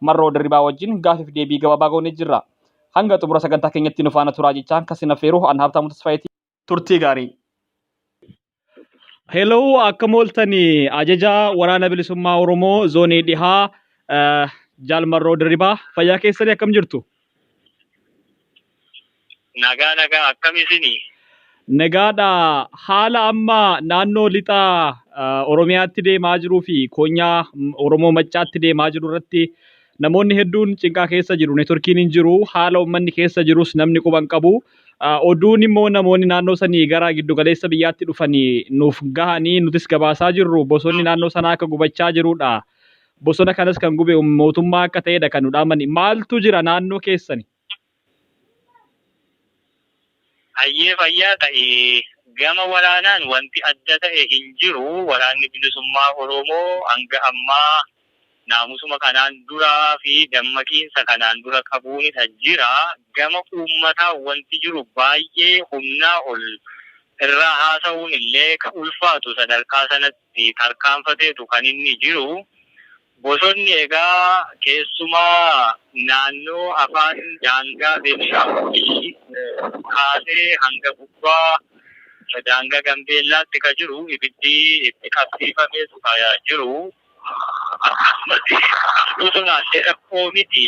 Marroo Dirribaa wajjin gaaffiif deebii gabaabaa goonee jirra. Hanga xumura sagantaa keenyatti nu faana turaa jechaan kan sin affeeru an Habtaamuu Tasfaayeti. Turtii gaarii! Hello, akkam ooltani ajajaa waraana bilisummaa Oromoo zoonii dhihaa eh, Jaal Marroo Dirribaa fayyaa keessanii akkam jirtu? Nagaa nagaa akkam isinii? Nagaadha haala amma naannoo lixa uh, Oromiyaatti deemaa jiruu fi koonyaa mm, Oromoo Maccaatti deemaa jiru irratti namoonni hedduun cinqaa keessa jiru. Neetworkiin hin jiru. Haala uummanni keessa jirus namni quba hin qabu. Uh, Oduun immoo namoonni naannoo sanii gara giddugaleessa biyyaatti dhufanii nuuf gahanii nutis gabaasaa jirru. Bosonni naannoo sanaa akka gubachaa jirudha. bosona kanas kan gube mootummaa akka ta'edha kan nu dhaamani. Maaltu jira naannoo keessani? Hayyee fayyaa ta'i. Gama waraanaan wanti adda ta'e hin jiru. Waraanni Bilisummaa Oromoo hanga ammaa naamusuma kanaan duraa fi dammaqiinsa kanaan dura qabuunidha jira. Gama uummataan wanti jiru baay'ee humnaa ol irraa haasa'uun illee kan ulfaatu sadarkaa sanatti. fi tarkaanfateetu kan inni jiru. Bosonni egaa keessumaa naannoo afaan daangaa Beenishaangulii kaasee hanga gubbaa daangaa Gambeellaatti kan jiru ibiddi itti qabsiifameetu kan jiru. Akkasumas bosonaan dheerakkoo miti.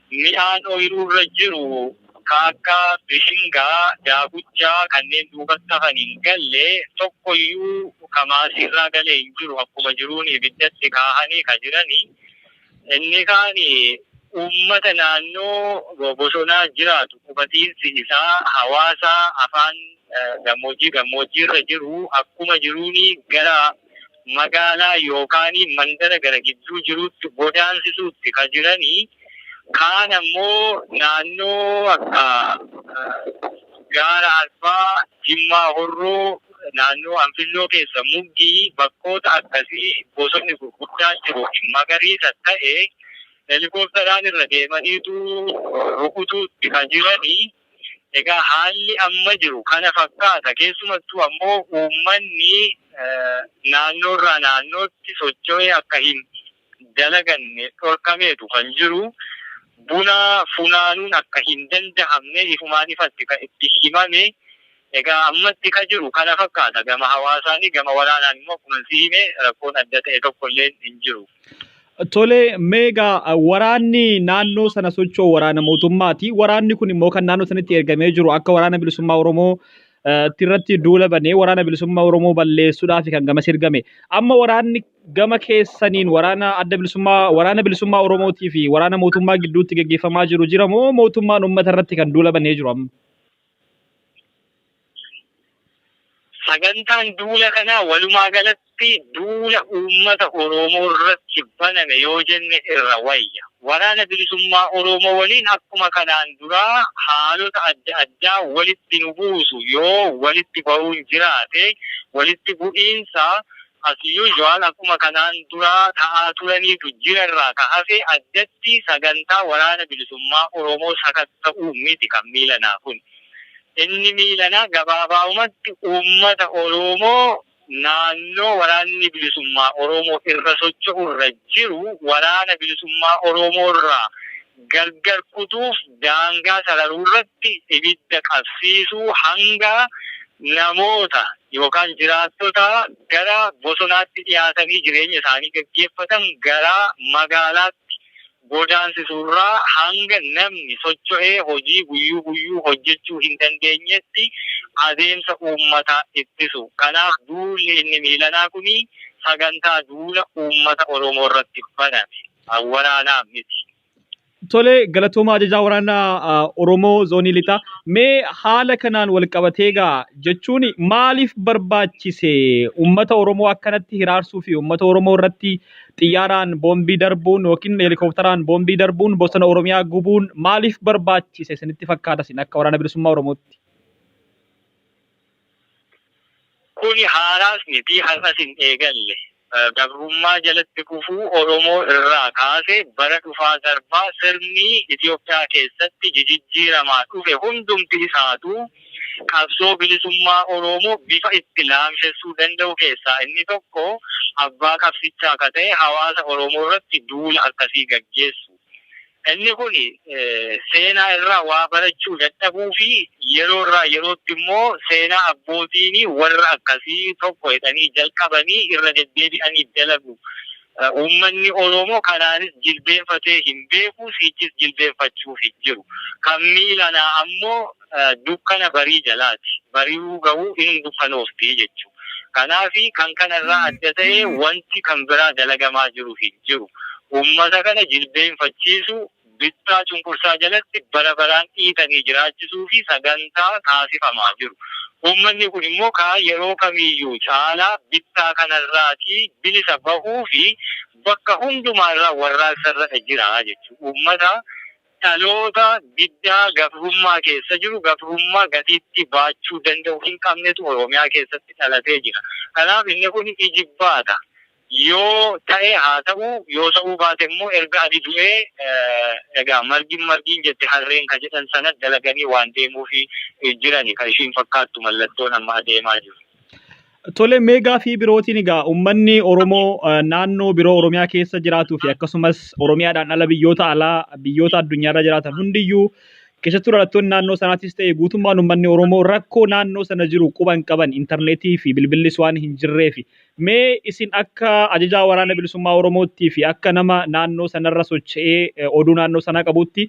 Mi'aan oyiruurra jiru ka akka bishingaa, daakuchaa, kanneen duubatti hafan hin galle, tokkoyyuu ka maasiirraa gale hin jiru, akkuma jiruun ibiddatti kaahanii ka jirani. Inni kaan uummata naannoo bosonaa jiraatu, qubatiinsi isaa hawaasa afaan gammoojjii gammoojjiirra jiru akkuma jiruun gara. magaalaa yookaan mandara gara gidduu jiruutti godaansisuutti ka jirani, kaan ammoo naannoo akka gaara Arbaa, Jimmaa Horroo, naannoo Anfilloo keessa Muggii, bakkoota akkasii bosonni gurguddaan jiru magariisa ta'e helikooptaraan irra deemaniitu rukutuutti ka jirani. Egaa haalli amma jiru kana fakkaata. Keessumattuu ammoo uummanni naannoorraa naannootti socho'ee akka hin dalaganne dhorkameetu kan jiru. Buna funaanuun akka hin dandahamne ifumaan ifatti kan itti himame Egaa ammatti ka jiru kana fakkaata. Gama hawaasaani gama waraanaan immoo akkuman si hime rakkoon adda ta'e tokko illeen hin jiru. Tole, mee egaa waraanni naannoo sana socho'u waraana mootummaati. Waraanni kun immoo kan naannoo sanitti ergamee jiru akka waraana bilisummaa Oromoo eh, tti irratti duula banee waraana bilisummaa Oromoo balleessuudhaaf kan gamas ergame. Amma waraanni gama keessaniin waraana adda bilisummaa waraana bilisummaa Oromootii fi waraana mootummaa gidduutti gaggeeffamaa jiru jira moo mootummaan uummata irratti kan duula banee jiru amma? Sagantaan duula kanaa walumaa galatti duula uummata Oromoo irratti baname yoo jenne irra wayya. Waraana Bilisummaa Oromoo waliin akkuma kanaan duraa haalota adda addaa walitti nu buusu yoo walitti bahuun jiraate walitti bu'iinsa As usual akkuma kanaan duraa ta'aa turaniitu jira irraa ka hafe addatti sagantaa Waraana Bilisummaa Oromoo sakatta'uu miti kan miilanaa kuni. Inni miilanaa gabaabaumatti uummata Oroomoo naannoo Waraanni Bilisummaa Oroomoo irra socho'u irra jiru Waraana Bilisummaa Oroomoo irraa gargar kutuuf daangaa sararuu irratti ibidda qabsiisuu hanga namoota yookaan jiraattotaa gara bosonaatti dhiyaatanii jireenya isaanii gaggeeffatan garaa magaalaatti godaansisuu irraa hanga namni socho'ee hojii guyyuu guyyuu hojjechuu hin dandeenyeetti adeemsa uummataa ittisu. Kanaaf duulli inni miilanaa kuni sagantaa duula uummata Oromoo irratti baname. Kan waraanaaf miti. Tole galatooma ajajaa waraanaa Oromoo zoonii lixaa. Mee haala kanaan wal qabatee gaa jechuun maaliif barbaachise uummata Oromoo akkanatti hiraarsuu fi uummata Oromoo irratti xiyyaaraan boombii darbuun yookiin heelikooptaraan boombii darbuun bosona Oromiyaa gubuun maaliif barbaachise isinitti fakkaata isin akka waraana bilisummaa Oromootti? Kuni haaraas miti, har'as hin eegalle. Gabrummaa jalatti kufuu Oromoo irraa kaase bara dhufaa darbaa sirni Itoophiyaa keessatti jijijjiiramaa dhufe hundumti isaatuu qabsoo bilisummaa Oroomoo bifa itti laamshessuu danda'u keessaa inni tokko abbaa qabsichaa ka ta'e hawaasa Oromoo irratti duula akkasii gaggeessu. Inni kun seenaa irraa waa barachuu dadhabuu fi yeroo irraa yerootti immoo seenaa abbootiin warra akkasii tokko jedhanii jalqabanii irra deddeebi'anii dalagu. Uummanni Oromoo kanaanis jilbeenfatee hin beeku, sichis jilbeenfachuu hin jiru. Kan miilanaa ammoo. dukkana barii jalaati. Bari'uu gahuu in dukanoofti jechu. Kanaafi kan kana irraa adda ta'e wanti kan biraa dalagamaa jiru hin jiru. Ummata kana jilbeenfachiisu, bittaa cunqursaa jalatti bara baraan dhiitanii jiraachisuufi sagantaa taasifamaa jiru. Ummanni kun immoo kaa yeroo kamiiyyuu caalaa bittaa kanarraati bilisa bahuufi bakka hundumaarraa warraaqsarradha jira jechu. Ummata Dhaloota diddaa gabrummaa keessa jiru, gabrummaa gatiittii baachuu danda'u hin qabnetu Oromiyaa keessatti dhalatee jira. Kanaaf inni kun ijibbaata yoo ta'e haa ta'u, yoo ta'uu baate immoo erga ani du'ee egaa margin margin jette harreen ka jedhan sana dalaganii waan deemuufi jirani ka ishiin fakkaattu mallattoon amma adeemaa jiru. Tole mee gaafii birootiin egaa uummanni Oromoo eh, naannoo biroo Oromiyaa keessa jiraatuu fi akkasumas Oromiyaadhaan ala biyyoota alaa biyyoota addunyaarra jiraatan hundiyyuu keessattuu dhalattoonni naannoo sanaatis ta'e guutummaan uummanni Oromoo rakkoo naannoo sana jiru quba hin qaban intarneetii fi bilbillis waan hin jirreef mee isin akka ajajaa waraana bilisummaa Oromootti fi akka nama naannoo sanarra socho'ee eh, oduu naannoo sanaa qabuutti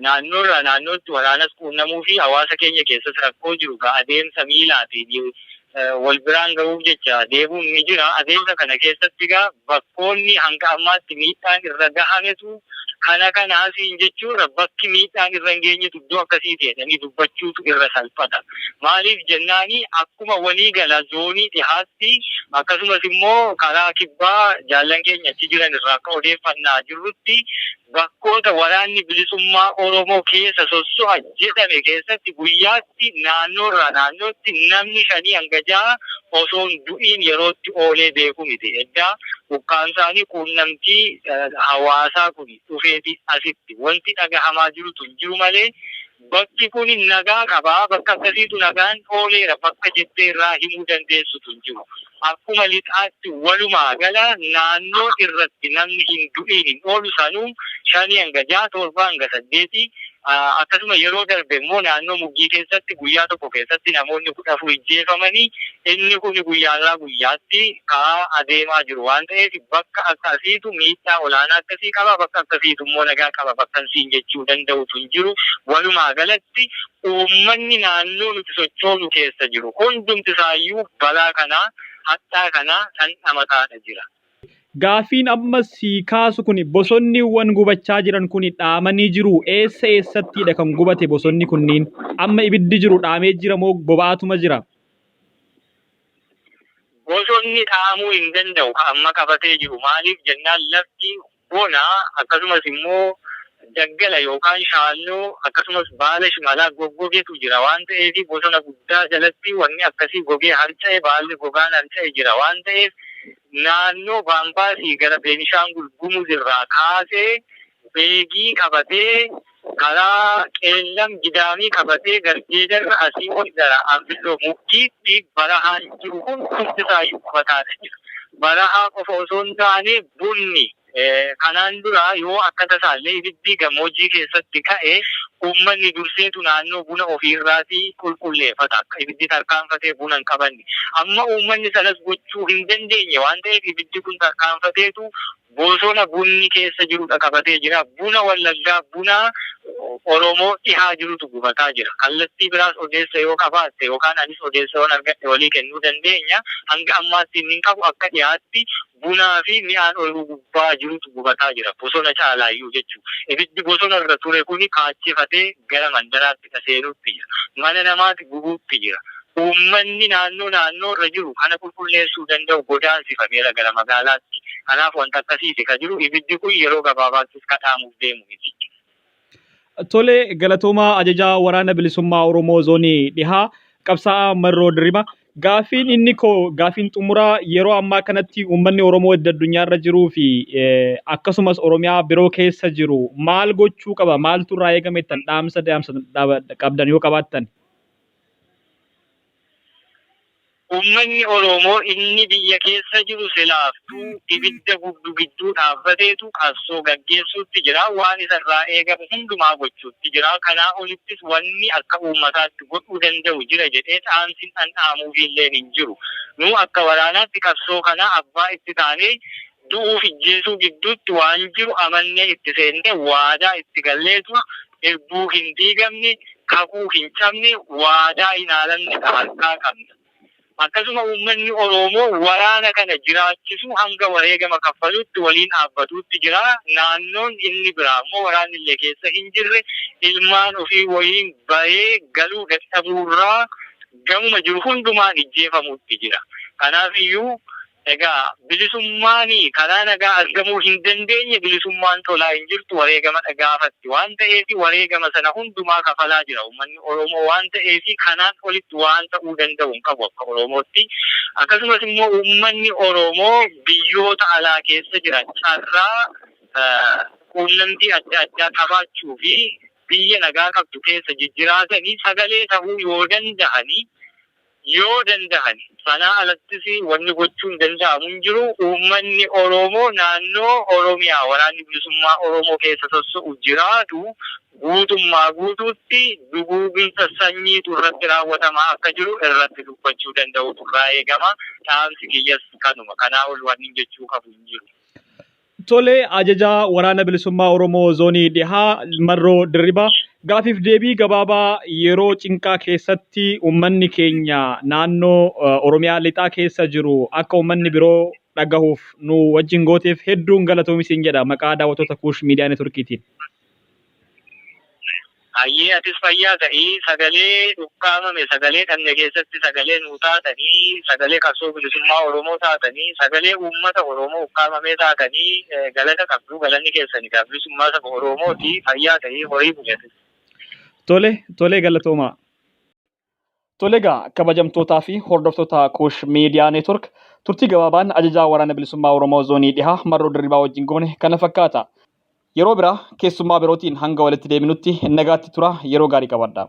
Naannoorraa naannootti waraanas quunnamuufi hawaasa keenya keessas rakkoo jiru ka adeemsa miilaatiin wal biraan gahuuf jecha deemuun ni jira. Adeemsa kana keessatti egaa bakkoonni hanga ammaatti miidhaan irra gahametu kana kana asiin jechuurra bakki miidhaan irra hin geenyetu iddoo akkasiiti jedhanii dubbachuutu irra salphata. Maaliif jennaani akkuma walii gala zoonii dhihaatti akkasumas immoo karaa kibbaa jaallan keenya achi jiran irraa akka odeeffannaa jirrutti Bakkoota Waraanni Bilisummaa Oromoo keessa sosso'a jedhame keessatti guyyaatti naannoorraa naannootti namni shanii hanga ja'a osoo hin du'iin yerootti oolee beeku miti. Eddaa ukkaamsaanii quunnamtii hawaasaa kun dhufeetii asitti wanti dhagahamaa jirutu hin jiru malee Bakki kun nagaa qaba, bakka sadiitu nagaan ooleera bakka jettee irraa himuu dandeessutu hin jiru. Akkuma lixaatti walumaa gala naannoo irratti namni hin du'iin hin oolu sanuu 5-6, 7-8 akkasuma yeroo darbe immoo naannoo Muggii keessatti guyyaa tokko keessatti namoonni 14 ijjeefamanii, Inni kun guyyaarraa guyyaatti ka'aa adeemaa jiru waan ta'eef bakka akka asiitu miidhaa olaanaa akkasii qaba, bakka akkasiitu immoo nagaa qaba bakkan siin jechuu danda'utu hin jiru. Walumaa galatti uummanni naannoo nuti sochoonu keessa jiru hundumti isaayyuu balaa kana, hadhaa kana dhandhamataadha jira. Gaaffiin amma sii kaasu kuni bosonniwwan gubachaa jiran kuni dhaamanii jiruu? Eessa eessattiidha kan gubate bosonni kunniin? Amma ibiddi jiru dhaamee jira moo boba'aatuma jira? Bosonni dhaamuu hin danda'u ka amma qabatee jiru maaliif jennaan lafti bona akkasumas immoo daggala yookaan shaalloo akkasumas baala shimalaa goggogetu jira waan ta'eef bosona guddaa jalatti wanni akkasii gogee harca'e baalli gogaan harca'e jira waan ta'eef naannoo Baambaasii gara Beenishaangul Gumuz irraa kaasee beegii qabatee karaa Qeellam Gidaamii qabatee Garjeedarra asii ol gara Anfilloo Mukkiitti barahaan jiru kun hundisaayyuu qubataadha jira. Barahaa qofa osoo hin taane bunni kanaan dura yoo akka tasaallee ibiddi gammoojjii keessatti ka'e uummanni durseetu naannoo buna ofiirraati qulqulleeffata akka ibiddi tarkaanfatee buna hin qabanne. Amma uummanni sanas gochuu hin dandeenye waan ta'eef ibiddi kun tarkaanfateetu Bosona bunni keessa jiru dhaqabatee jira. Buna Wallaggaa, buna Oromoo dhihaa jirutu gubataa jira. Kallattii biraas odeessa yoo qabaatte yookaan anis odeessa yoon argadhe walii kennuu dandeenya. Hanga ammaatti innin qabu akka dhihaatti bunaa fi mi'aan oyiruu gubbaa jirutu gubataa jira. Bosona caalaayyuu jechuu. Ibiddi bosona irra ture kuni kaachefatee gara mandaraatti. keessa seenuutti jira. Mana namaati gubuutti jira. Uummanni naannoo naannoo irra jiru kana qulqulleessuu danda'u godaansifameera gara magaalaatti. Kanaaf wanta akkasiiti ka jiru. Ibiddi kun yeroo gabaabaattis ka dhaamuuf deemu miti. Tole, galatoomaa Ajajaa Waraana Bilisummaa Oromoo Zoonii Dhihaa, Qabsaa'aa Marroo Dirriba. Gaaffiin inni koo gaaffiin xumuraa yeroo ammaa kanatti uummanni Oromoo edda addunyaa irra jiruu fi akkasumas Oromiyaa biroo keessa jiru maal gochuu qaba? Maaltu irraa eegame ittan dhaamsa dhaamsa qabdan yoo qabaattan? Uummanni Oromoo inni biyya keessa jiru silaaftuu ibidda gubdu gidduu dhaabbateetu qabsoo gaggeessuutti jira. Waan isa irraa eegamu hundumaa gochuutti jira. Kanaa olittis wanni akka uummataatti godhuu danda'u jira jedhee dhaamsin an dhaamuufiillee hin jiru. Nuu akka waraanaatti qabsoo kana abbaa itti taanee du'uuf ijjeesuu gidduutti waan jiru amannee itti seennee waadaa itti galleetuma irbuu hin diigamne, kakuu hin cabne, waadaa hin haalamne ka harkaa qabna. Akkasuma uummanni Oroomoo waraana kana jiraachisuu hanga wareegama kaffaluutti waliin dhaabbatuutti jira. Naannoon inni biraa immoo waraanni illee keessa hin jirre ilmaan ofii waliin bahee galuu dadhabuurraa gamuma jiru hundumaan ijjeefamuutti jira. Kanaaf iyyuu Egaa bilisummaani karaa nagaa argamuu hin dandeenye bilisummaan tolaa hin jirtu wareegamadha gaafatti waan ta'eefi wareegama sana hundumaa kafalaa jira ummanni Oromoo waan ta'eefi kanaan olitti waan ta'uu danda'u hin qabu akka Oromootti akkasumas immoo ummanni Oromoo biyyoota alaa keessa jiran carraa quunnamtii adda addaa qabaachuu fi biyya nagaa qabdu keessa jijjiraatani sagalee ta'uu yoo danda'ani Yoo dandahan sanaa alattis wanni gochuun danda'amu hin jiru. Uummanni Oroomoo naannoo Oromiyaa Waraanni Bilisummaa Oroomoo keessa sosso'u jiraatu guutummaa guutuutti duguuginsa sanyiitu irratti raawwatamaa akka jiru irratti dubbachuu danda'uutu irraa eegama. Dhaamsi kiyyas kanuma. Kanaa ol wannin jechuu qabu hin jiru. Tole ajajaa waraana bilisummaa Oromoo zoonii dhihaa Marroo Dirribaa gaafiif deebii gabaabaa yeroo cinqaa keessatti uummanni keenya naannoo eh, Oromiyaa lixaa keessa jiru akka uummanni biroo dhagahuuf nu wajjin gooteef hedduun galatoomi siin jedha maqaa daawwattoota Kuush Miidiyaa Neetworkiitiin. Hayyee atis fayyaa ta'i sagalee dhukkaamame sagalee dhabne keessatti sagalee nuu taatanii sagalee qabsoo bilisummaa oromoo taatanii sagalee uummata oromoo ukkaamamee taatanii galata qabduu galanni keessan egaa bilisummaa saba oroomooti fayyaa ta'i horii buli atis. Tole, tole galatoomaa. Tole egaa kabajamtootaa fi hordoftoota Kuush Miidiyaa Neetwork turtii gabaabaan ajajaa waraana bilisummaa Oromoo zoonii dhihaa marroo dirribaa wajjin goone kana fakkaata. Yeroo biraa keessummaa birootiin hanga walitti deebinutti nagaatti turaa yeroo gaarii qabaadhaa.